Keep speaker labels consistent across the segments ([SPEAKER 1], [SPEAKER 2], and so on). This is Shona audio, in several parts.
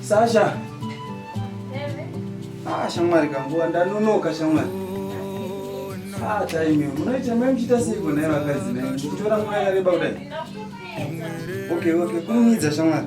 [SPEAKER 1] Sasha. Ah, shamwari kanguva ndanonoka shamwari. Ah, time munoita mai muchiita seiko naye vakadzi naye muchitora nguva yakareba kudai. Okay, okay, kumumidza shamwari.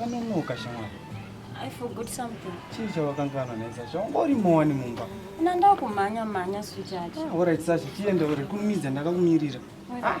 [SPEAKER 1] Vanonoka shamwari. I forgot something. Chii chawakanganwa nesa? Chawangori mowani mumba. Na ndakumhanya mhanya sweetheart. Ah, all right Sasha, tiende uri kumidza ndakakumirira. Ah.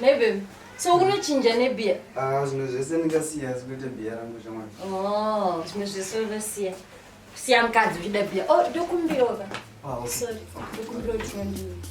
[SPEAKER 1] Nebe, so unochinja nebia? Ah, zvimwe zvese ndingasiya asi kuita bia rangu shamwari. Oh, zvimwe zvese unosiya. Siya mukadzi uchida bia. Oh, ndokumbirawo ka. Ah, okay. Sorry, ndokumbirawo 20 minutes.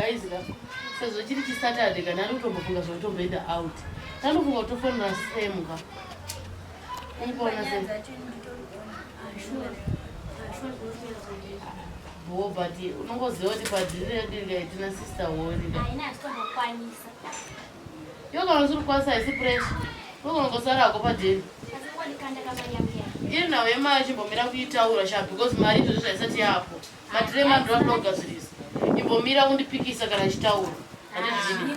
[SPEAKER 1] guys ka sezvo chiri chisaturday kana ari kutombofunga zvekutomboenda out tanofunga kutofonera sam ka unkuona sam bhoo but unongoziva kuti padhiri redu inga itina sister holinga haina hatitombokwanisa yo kana usiri kukwanisa haisi presha unokonongosara hako padhiri iri nhau yemari chimbomira kuitaura sha because mari izvozvo zvaisati yapo madhiri emandira kuda kugadzirisa imbomira kundipikisa kana ichitaura handizvii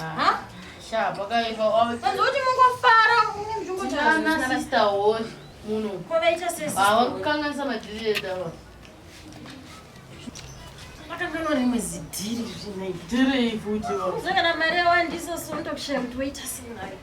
[SPEAKER 1] Aha. Sha, pakaipa. Panzi kuti mungofara munzvimbo chana sister holy muno. Kwavaita sesi. Hawa kukanganisa madhiri edu ava. Makangano rimwe zidhiri rina idhiri futi. Zvakana mari yawandiso sondo kushaya kuti waita sei nayo.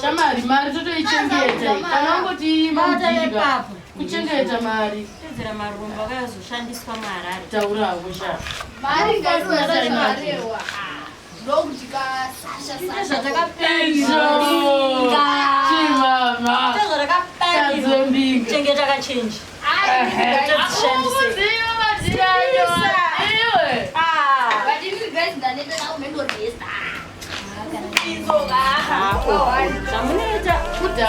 [SPEAKER 1] shamari mari totoichengeta kana wangoti imbaa kuchengeta mari kuwedzera marombo akayozoshandiswa muharare tauravo shaa zvamunoita kuda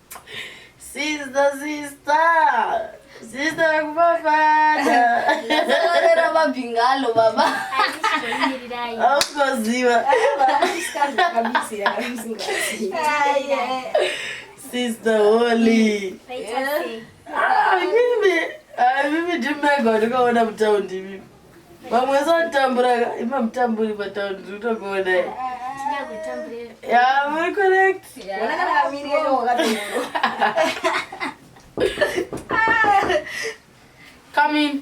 [SPEAKER 1] Sister, sister. Sister kufafata. Ndazorera mabhingalo baba. Aukoziva. Sister Holy. Ah, mimi. Ah, mimi ndimega ndikaona mutaundi mimi. Vamwe wese vatambura ka ima mutamburi pataundi tiri kutokuona i. Yeah, very correct. Come in.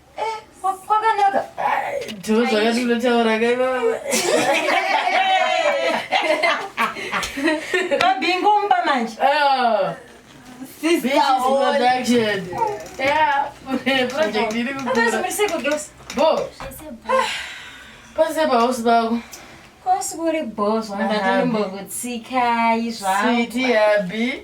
[SPEAKER 1] kwakanaka ndoo zvakati unotaura kai baba babingo mumba manje ah. pase pahosi pako kosi kuri bhozvandatondimbokutsikai zvaiti habi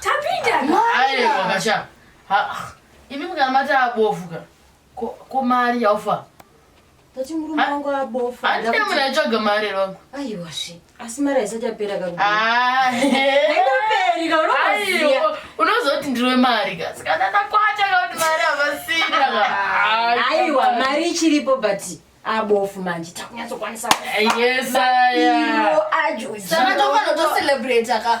[SPEAKER 1] tapindaaiwakasha imi mukamati abofu ka ko mari yaufa tati murume wangu abofa handina munhu aitsvaga mari here wangu aiwasve asi mari haisati yapera kaunozoti ndiri wemari ka saka ndanakwata kakuti mari havasina aiwa mari ichiripo but abofu manje takunyatsokwanisa yesaiwo ajo saka tofanoto celebrate ka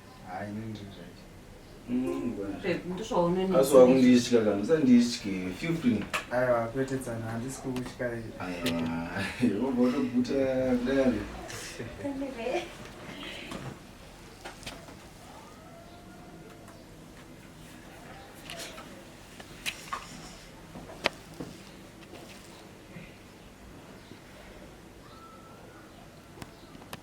[SPEAKER 1] asi wakunditya kana usanditye fifteen aiwa kwete tsana handisi kukutya wobva utoguta kudai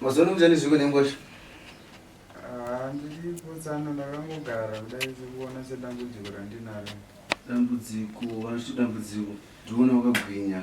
[SPEAKER 1] mazono mjani zviko nengosha ah, ndiripotsana ndakangogara kudai sekuona sedambudziko randinaro dambudziko vanoti dambudziko ndiona wakagwinya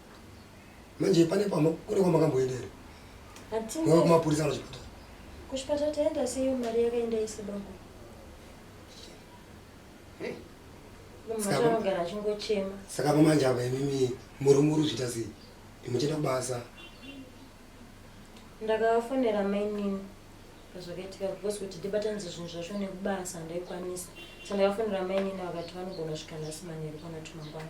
[SPEAKER 1] manje pane pama kune kwamakamboenda here ngava kumapurisa kana chipatara kuchipatara taenda seiyo mari yakaenda ise baba mumhaanogara achingochema saka pamanje apa imimi muri muri zviita sei imuchienda kubasa ndakavafonera mainini zvakaitika because kuti ndibatanidze zvinhu zvacho nekubasa ndaikwanisa so ndakafonera mainini vakati vanogona svika nhasi manheru kana tumangwana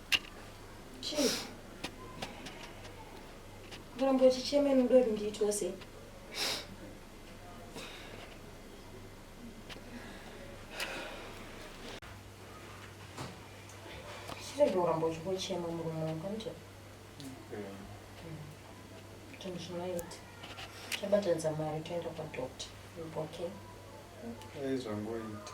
[SPEAKER 1] Muramba uchichema imi muda kuti ndiitwa sei? Chirege kuramba uchingochema murume wangu hanti? Zvinhu zvinoita. Chabatanidza mari toenda kwadoctor. Okay. Aizvangoita.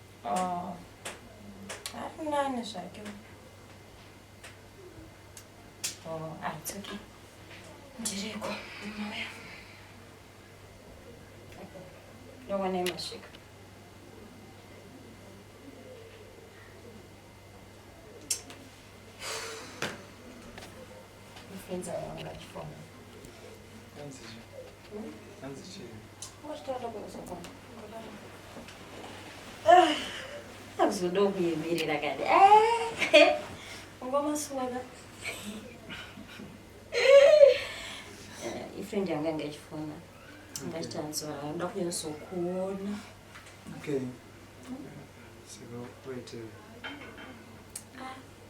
[SPEAKER 1] Oh. Ari nani zvake. Oh, ah, it's okay. Ndiriko, mauya. Ndowanei masvika. akuzodo kuyemerera kani ungomaswaka ifriend yanga anga ichifona ngachitanzora anoda kunyasokuona okay. so, wait, uh...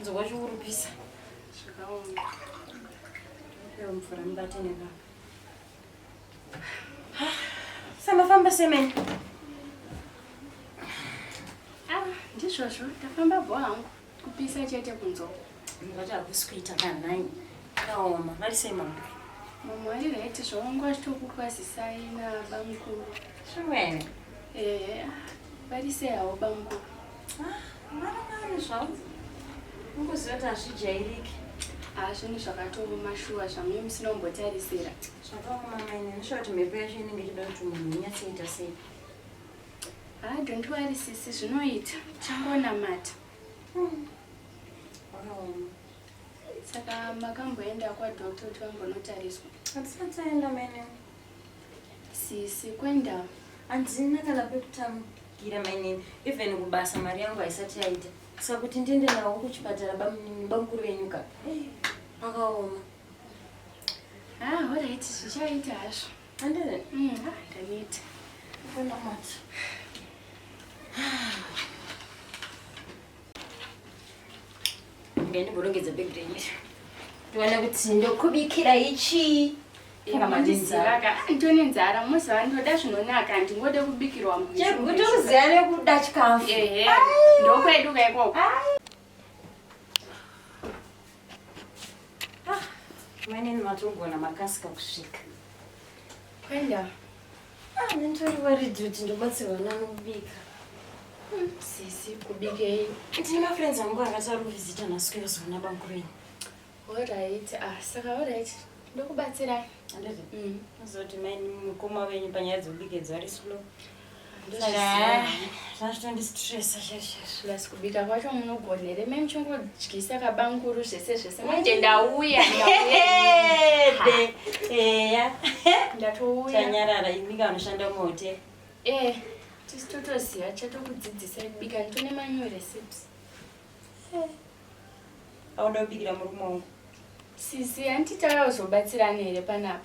[SPEAKER 1] nzwa chikurupisa zvakaoma iyo mvura mubate nebaba samafamba semene ah, ndizvozvo ndafamba bho hangu kupisa chete kunzwa ndati hakusi kuita kanhai kaoma vari sei mambo mambo ari right zvaungu achitokukwazisai nabamukuru zvimwene ehe ah, vari sei hawo bamukuru hazvinhu zvakatooma shuwa zvamuye musina kumbotarisira zvakaoma maine ndishuwa kuti mhepo yacho inenge ichida kuti munhu unyatsoita sei ha ah, don't worry sisi zvinoita changonamata hmm. wakaoma saka makamboenda kwadoctor kuti vambonotariswa hatisataenda maine Sisi kwenda. Andina kana pekutangira mainini. Even kubasa mari yangu haisati yaita. Saka kuti ndiende nawo kuchipatara bamunini bamukuru venyu ka. Pakaoma. Ah, all right. Zvichaita hazvo. Andina. Mm, ah, ndaneta. Kwenda mati. Ah. ngandiborongedza bag renyu ndiona kuti ndokubikira ichi nditone nzara moziva ndoda zvinonaka ndingode kubikirwa muchekuti uziva nekuda chikafu ehe ndokwedu kaikoko mainini ah, matogona makasika kusvika kwenda Ah, nditori worried kuti ndobatsirwa nani kubika. Hmm, sisi kubikei? Ndine mafriends angu akati ari kuvhizita nhasi kuyozoona bamkurenyu. Alright, ah saka alright. Ndokubatsirai. Anditi. Mm. Azoti mai mukoma wenyu panyaya dzekubika idzo ari slow. Ndoshaya. zvazvitondistresa cheri cheri plus kubika kwacho munogona here mai muchingodyisa kabanguru zvese zvese manje ndauya eya ndatouya tanyarara imi kanoshanda muhotel e tisi totoziva chatokudzidzisai kubika nditone manyu recipes auda kubikira murume wangu sisi handiti tauya kuzobatsirana here panapa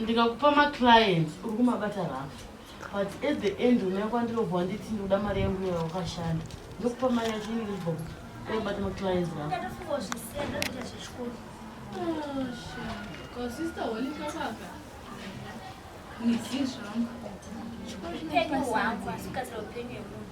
[SPEAKER 1] ndikakupa maclients uri kumabata rafu but at the end unaya kwandirobva wanditi ndikuda mari yangu yaya wakashanda ndokupa mari yacho inenge ibva kuti ndakubata maclients rafu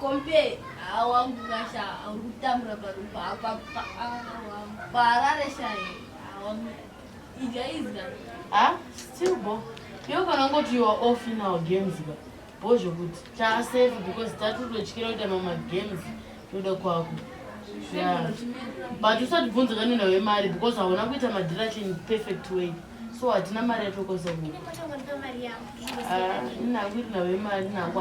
[SPEAKER 1] Kompe ah, wangu kasha ah, uri kutambura parupa apa paharare ah, shaye wangu idya izga ha still bo iwe kana ungoti you are off in our games ba bo zvekuti taasafe because tati utotyira kuita mama games toda kwako but usatibvunza kanena wemari because hauna kuita madhirachini perfect way so hatina mari yatokoza huku inangu iri navo imari nangu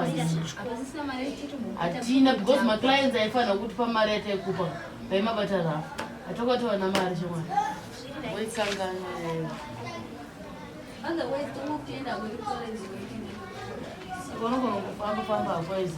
[SPEAKER 1] hatina because maclients aifanira kutipa mari yataikupa vaimabata rafu hatokatowana mari chemwana waikangana vanogona kufamba famba hakwaizi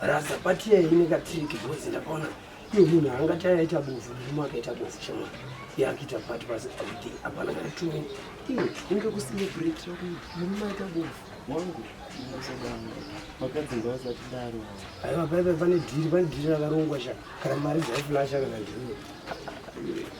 [SPEAKER 1] Rasa pati yayi ine ka trick boys ndakaona iyo munhu angati ayaita bofu murume akaita bofu chama yakuita pati pasi kuti hapana kana tumi iyo inge kucelebrate kuti murume aita bofu wangu vakadzinga vasati daro aiwa paipa pane dhiri pane dhiri rakarongwa sha kana mari dzaiflasha kana ndii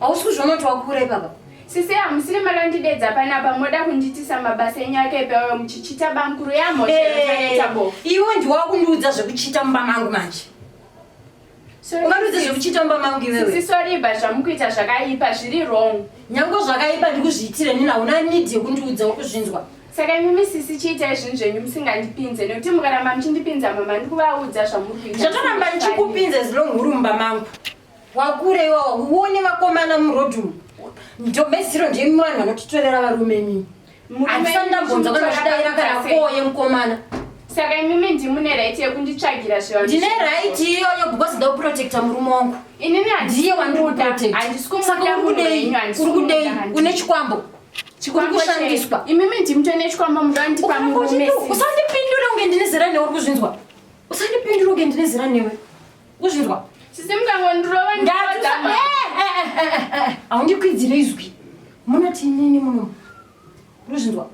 [SPEAKER 1] Hausi kuzviona kuti wakura ipapa? Sisi hamusiri mari andidedza panapa moda kunditisa mabasa enyu ake ipi ayo muchichita bamkuru yamhoeta bo. Iwe ndiwe wakundiudza zvekuchita mumba mangu manje. Ungandiudza zvekuchita mumba mangu iwewe. Sisi sorry ba zvamukuita zvakaipa zviri wrong. Nyange zvakaipa ndikuzviitire nini hauna need yekundiudza ukuzvinzwa. Saka imi misisi chiita izvinhu zvenyu musingandipinze nekuti mukaramba muchindipinza mama ndikuvaudza zvamuri kuita. Zvatoramba ndichikupinza zilonghuru mumba mangu. wakura iwawa uone vakomana muroad umu ndomeziro ndimi vanhu vanotitorera varume mimi handisani ndambonza kana zvidaira kana koye mukomana saka imimi ndimune right yekunditsvagira zviva ndine right iyoyo because ndauprotecta murume wangu inini ndiye wandikuprotectasaka urikudei uri kudei une chikwambo chikushandiswa imimi ndimto ine chikwambo mudandipa murume usandipindure unge ndine zera newe uri kuzvinzwa usandipindure unge ndine zera newe Kuzvirwa. Sisi mukangondurova ndadama. Haundikwidzire izwi. Munoti inini muno. Kuzvirwa.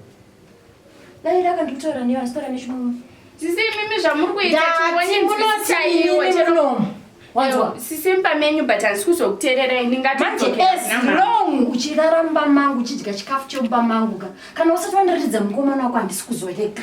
[SPEAKER 1] Dai raka ndikutaura newe asi taura nechimumwe. Sisi mimi zvamuri kuita chingoni munoti iwe chero. Wanzwa? Sisi mpamenyu but handisi kuzokutererai ndingati. Manje as long uchirara mumba mangu uchidya chikafu chemumba mangu ka. Kana usati wandiratidza mukomana wako handisi kuzorega.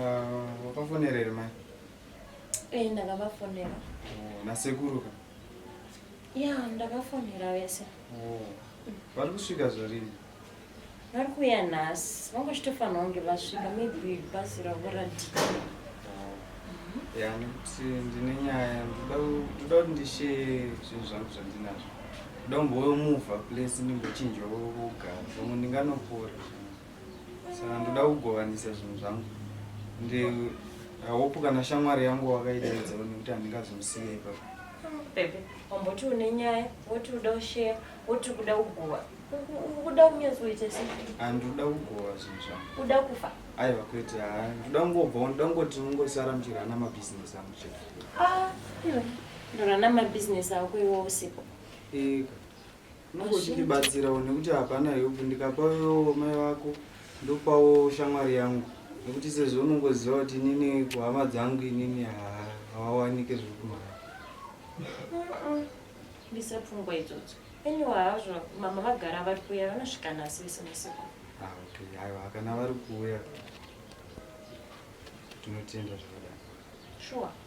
[SPEAKER 1] Ah, wakafonera here mai Eh, ndakavafonera Oh, nasekuru ka ya ndakafonera vese Oh, vari kusvika zvarini vari kuuya nhasi vangachitofanira kunge vasvika maybe bhazi ravo radhika ya nekuti ndine nyaya ndoda ku- ndoda kuti ndisheye zvinhu zvangu zvandinazvo ndoda kumbouya muvha place ndimbochinjwa kokugara pamwe ndinganopora saka ndoda kugovanisa zvinhu zvangu ndi hope kana shamwari yangu wakaidaidza one kuti handingazomusiya ipapo bebe wamboti une nyaya woti uda usheya woti kuda kugova ukuda kunyazoita se handikuda kugova zvinhu zvangu uda kufa aiwa kwete haa ndoda kungobva ndoda kungoti ungosara muchirana mabhizinesi angu chete ah, ndorana mabhizinesi ako iwo usipo ika Unongochibatsirawo nekuti hapana help ndikapawo mai vako ndopawo shamwari yangu nekuti sezvo unongoziva kuti inini kuhama dzangu inini hawawanike zviri kumhara ndise pfungwa idzodzo eniwa hazvo mama vagara vari kuuya vanosvika nhasi vese masiku ah, okay aiwa kana vari kuuya tinotenda zvakadai shuwa sure.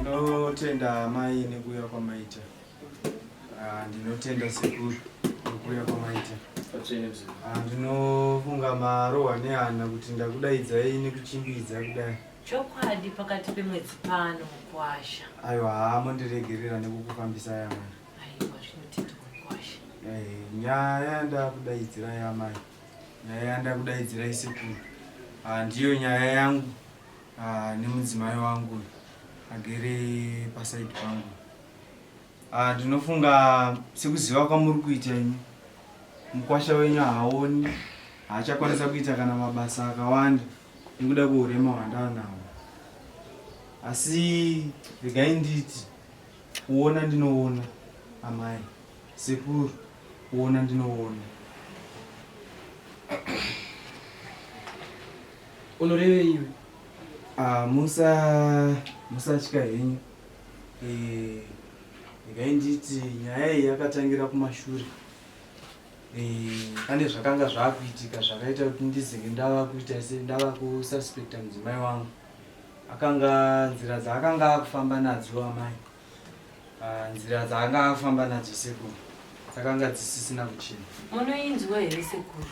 [SPEAKER 1] Ndinotenda amai nekuuya kwamaita. Ah, ndinotenda sekuru nekuuya kwamaita. Ah, ndinofunga marohwa neana kuti ndakudaidza ini kuchimbidza kudai. Chokwadi pakati pemwedzi pano mukwasha. Aiwa, haa mondiregerera nekukufambisa yamana. nyaya ndakudaidzira yamai nyaya yandakudaidzira isekuru ah, ndiyo nyaya yangu ah, nemudzimai wangu agere pasaidi pangu ah, ndinofunga sekuziva kwamuri kuita imi mukwasha wenyu haaoni haachakwanisa kuita kana mabasa akawanda nekuda kweurema hwandaanawo asi regai nditi Kuona ndinoona amai sekuru, kuona ndinoona. Unorevei iwe? Ah, musa musatya henyu. Eh, regai nditi nyaya iyi yakatangira kumashure. Eh, pane zvakanga zvakuitika zvakaita kuti ndizenge ndava kuita se ndava kususpecta mudzimai wangu. akanga nzira dzaakanga akufamba nadzo amai ah, nzira dzaanga akufamba nadzo sekuru dzakanga dzisisina kuchina munoinzwa here sekuru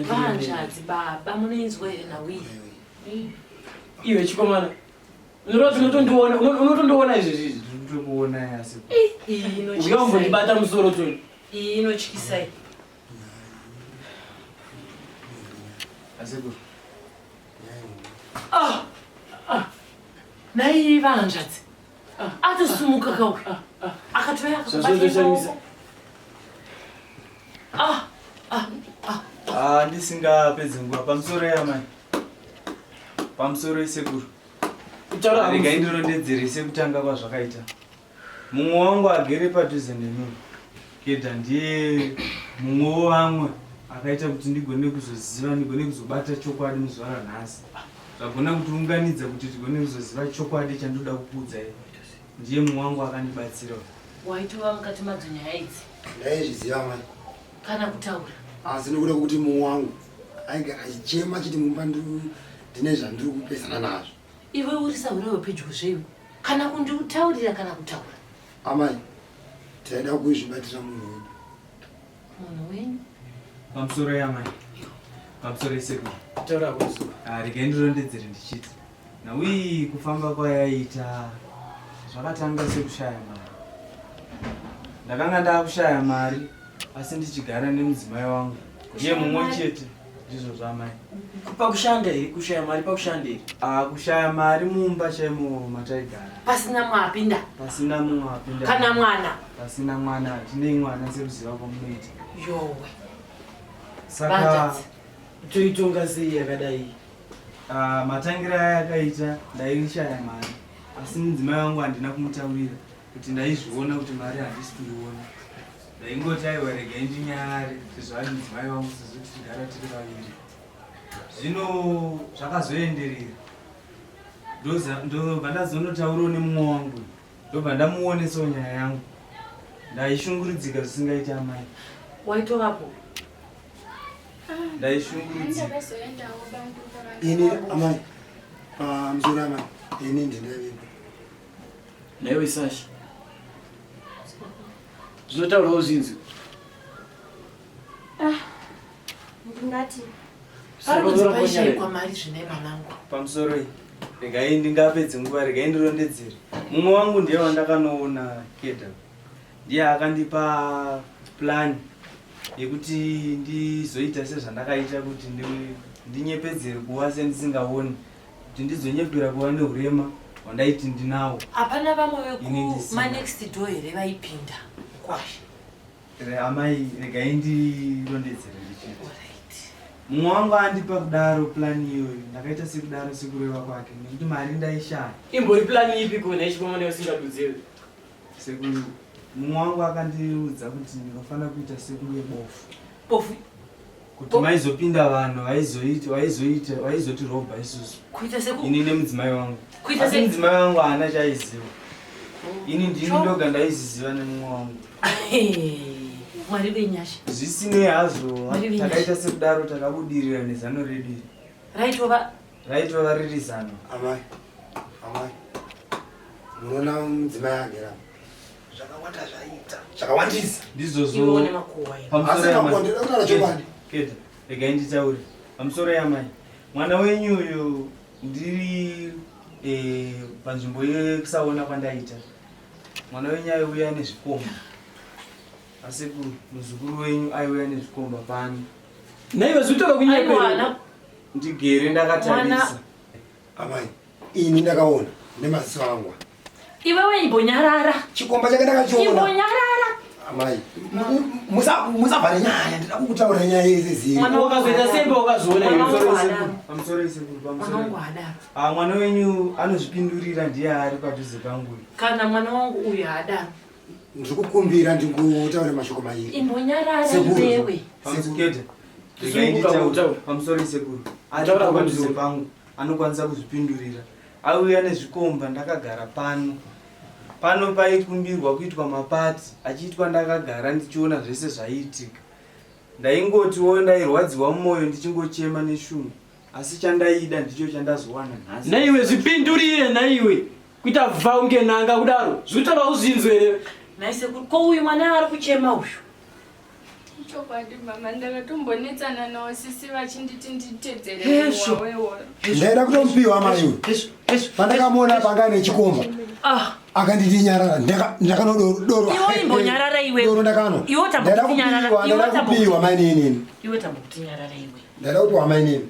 [SPEAKER 1] vanzvadzi baba munoinzwa here nhau iyi iwe chikomana unotondiona unotondiona izvezvi izvi ndinokuona yasi uya umbondibata musoro toni iyi inotyisai asekuru Ah, ah. Nai vahanzvadzi ah, atosumuka kauya ah, ah. akatoya akabataaoko ah, ah, ah. ah, ndisingapedzi nguva pamusoro yamai pamusoro isekuru rega indirondedzere sekutanga kwazvakaita Mumwe wangu agere padhuze neni Kedha ndiye mumwe wevamwe akaita kuti ndigone kuzoziva ndigone kuzobata chokwadi muzuva ranhasi zvagona kutiunganidza kuti tigone kuzoziva chokwadi chandoda kukuudzai ndiye mumwe wangu akandibatsira waitova mukati madzo nyaya idzi ndaizviziva mai kana kutaura asi nekuda kuti mumwe wangu ainge achichema chiti mumba ndine zvandiri kupesana nazvo Iwe uri sahura wepedyo zvewe kana kundiutaurira kana kutaura. Amai, taida kuizvibatira munhu wedu. Munhu wenyu? Pamusoro yamai. Pamusoro yesekuru. Taura kuzo. Ah, regai ndirondedzere ndichiti. Nawi kufamba kwayaita zvakatanga sekushaya mari. Ndakanga ndakushaya mari asi ndichigara nemudzimai wangu ndiye mumwe chete ndizvo zvamai pakushanda here kushaya mari pakushanda here ah, kushaya mari mumba chaimo mataigara pasina mwapinda pasina mwapinda kana mwana pasina mwana hatinei mwana sekuziva kwamunoita yowe saka toitonga sei yakadai ah, matangira aya akaita ndaishaya mari asi mudzimai wangu handina kumutaurira kuti ndaizviona kuti mari handisi kuiona ndaingoti aiwa regai ndinyare sezvo ari mudzimai wangu sezvo tichigara tiri vaviri zvino zvakazoenderera ndobva ndazonotaurawo nemumwe wangu ndobva ndamuonesawo nyaya yangu ndaishunguridzika zvisingaiti amai waitovapo ndaishunguridzika ini amai pamzura amai ini ndindavepo Naiwe Sasha. Zvinotaurawo zvinzi. Ah. Ndingati. Ari kudzipaisha kwa mari zvine manangu. Pamusoro iyi. Regai ndingapedze nguva regai ndirondedzere. Mumwe wangu ndiye wandakanoona keda. Ndiye akandipa plan yekuti ndizoita sezvandakaita kuti ndinyepedzere kuwa sendisingaoni. Ndi kuti ndizonyepera kuva neurema hwandaiti ndinawo hapana vamwe vekumanext door here vaipinda kwashe amai regai ndirondedzere ndichiti mumwe wangu andipa kudaro plani iyoyo ndakaita sekudaro sekureva kwake nekuti mari ndaishaya imbori plani ipi kona ichikoma neusingadudziri sekuru mumwe wangu akandiudza kuti ndinofanira kuita sekunge bofu bofu kuti oh. maizopinda vanhu vaizotirobha isusu ini nemudzimai wangu asi mudzimai wangu haana chaiziva oh. ini ndini ndoga ndaiziziva nemumwe wangu mwari venyasha zvisinei hazvo takaita sekudaro takabudirira nezano redu raitova raitova riri zano amai amai munoona mudzimai agera zvakawanda zvaita zvakawandisa ndizvozvo regai nditaure pamusoro yamai mwana wenyu uyu ndiri eh, panzvimbo yekusaona kwandaita mwana wenyu aiuya nezvikomba asi muzukuru wenyu aiuya nezvikomba pano naive zvitoka kunyepe ndigere ndakatarisa Amai, ini ndakaona nemaziso angu. Iwewe imbonyarara. Chikomba chake ndakachiona. Imbonyarara. Amai, musavhare nyaya, ndida kukutaura nyaya yese zii. Mwana wakazoita sembe wakazoona iwe. I'm sorry sekuru, pamusoro. Ah, mwana wenyu anozvipindurira ndiye ari padhuze pangu. Kana mwana wangu uyu haadaro. ndiri kukumbira ndingotaura mashoko mairi imbonyarara iwewe sekete pamusoro isekuru ataura padhuze pangu anokwanisa kuzvipindurira auya nezvikomba ndakagara pano pano paikumbirwa kuitwa mapati achiitwa ndakagara ndichiona zvese zvaiitika ndaingotiwo ndairwadziwa mumwoyo ndichingochema neshungu asi chandaida ndicho chandazowana nhasi naiwe zvipindurire naiwe kuita vha unge nanga kudaro zvikutoda uzvinzwe here naisekuru ko uyu mwana ari kuchema uyu ichokwadi mama ndakatombonetsana nawo sisi vachinditi nditedzereaida kutomupiwa maiwe pandakamuona panga nechikomba ah. akanditi nyarara ndakanodoroimbonyarara iweoro ndakano ndaida kupiwa maininini ndaida kupiwa mainini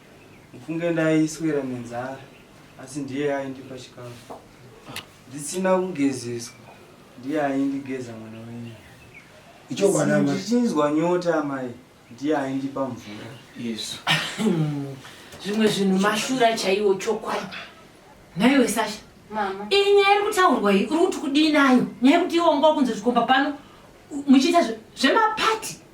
[SPEAKER 1] Mufunge ndaiswera nenzara asi ndiye aindipa chikafu. Ndisina kugezeswa ndiye aindigeza mwana wenyu. Ichokwadi amai. Ndichinzwa nyota amai ndiye aindipa mvura. Yesu. Zvimwe zvinhu mashura chaiwo chokwadi. Nhaiwe Sasha. Mama. Iyi nyaya iri kutaurwa iyi uri kuti kudii nayo? Nyaya yekuti iwo ngokunzi zvikomba pano muchiita zvemapati.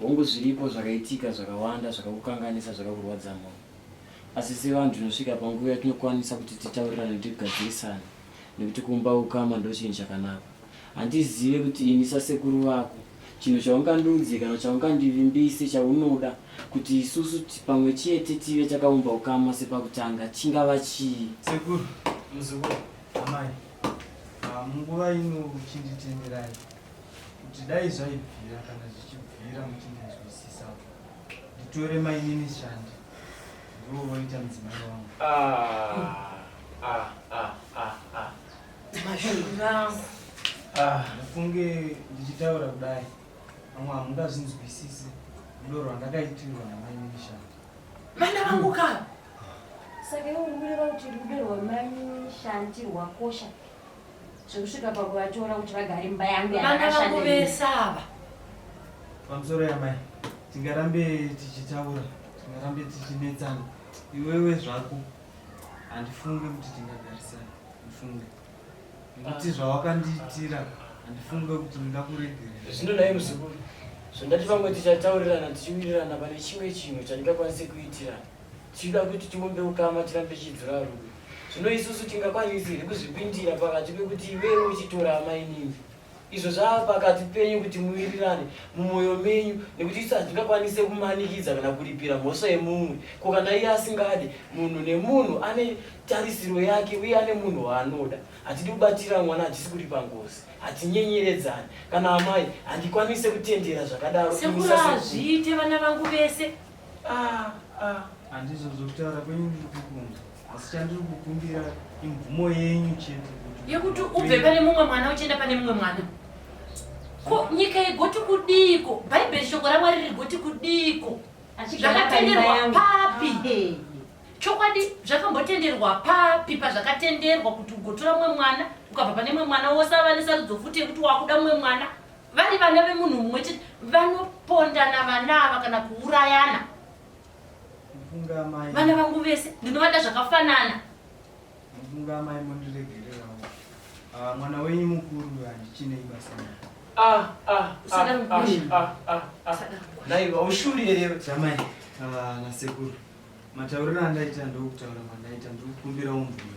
[SPEAKER 1] Hongu zviripo zvakaitika zvakawanda zvakakukanganisa zvakakurwadza mwoyo. Asi sevanhu tinosvika panguva yatinokwanisa kuti titaurirane tigadzirisane nekuti kumba ukama ndochinhu chakanaka. Handizive kuti ini sasekuru vako chinhu chaungandiudze kana chaungandivimbise chaunoda kuti isusu pamwe chete tive takaumba ukama sepakutanga chingava chii? Sekuru, muzukuru, amai, ah, munguva ino chinditenderai. kuti dai zvaibvira kana zvichibvira muchindinzwisisa nditore mainini shandi ndivo voita mudzimai wangu ah, ah, ah, ah, ah. mashunangu ah, ndafunge ndichitaura kudai vamwe hamungazvinzwisisi rudo rwandakaitirwa namainini shandi vana vangu kava saka iwe uri kureva kuti rudo rwamainini shandi rwakosha zvekusvika pakuvatora kuti vagare imba yangu vana vangu vese ava pamusoro yamai tingarambe tichitaura tingarambe tichinetsana iwewe zvako handifunge kuti tingagarisana ndifunge nekuti zvawakandiitira handifunge kuti ndingakuregerera zvino naye muzukuru zvandati vamwe tichataurirana tichiwirirana pane chimwe chinhu chandingakwanise kuitirana Tichida kuti tiumbe ukama tirambe tichidzora rudo. Zvino isusu tingakwanisi here kuzvipindira pakati pekuti iwewe uchitora amainini? Izvo zvava pakati penyu kuti muwirirane mumwoyo menyu, nekuti isu hatingakwanise kumanikidza kana kuripira mhosva yemumwe. Ko kana iye asingade? Munhu nemunhu ane tarisiro yake uye ane munhu waanoda. Hatidi kubatira mwana achisi kuripa ngozi. Hatinyenyeredzani. Kana amai, handikwanise kutendera zvakadaro. Sekuru hazviite vana vangu vese. Ah, ah. Handizvo zvokutaura kwenyu ndiri kukunza. Asi chandiri kukumbira imvumo yenyu chete kuti yekuti ubve pane mumwe mwana uchienda pane mumwe mwana. Ko nyika yegoti kudiiko? Bhaibheri shoko raMwari rigoti kudiiko? Zvakatenderwa papi? Ah, chokwadi zvakambotenderwa papi pazvakatenderwa kuti ugotora mumwe mwana ukabva pane mumwe mwana wosava nesarudzo futi yekuti wakuda mumwe mwana vari vana vemunhu mumwe chete vanopondana vana ava kana kuurayana vana vangu vese ndinovada zvakafanana mufunga amai mondiregererawo ah, mwana wenyu mukuru handichinei basa ah, ah, naiva ushuri here chamai nasekuru matauriro andaita ndokutaura kwandaita ndikukumbira umvume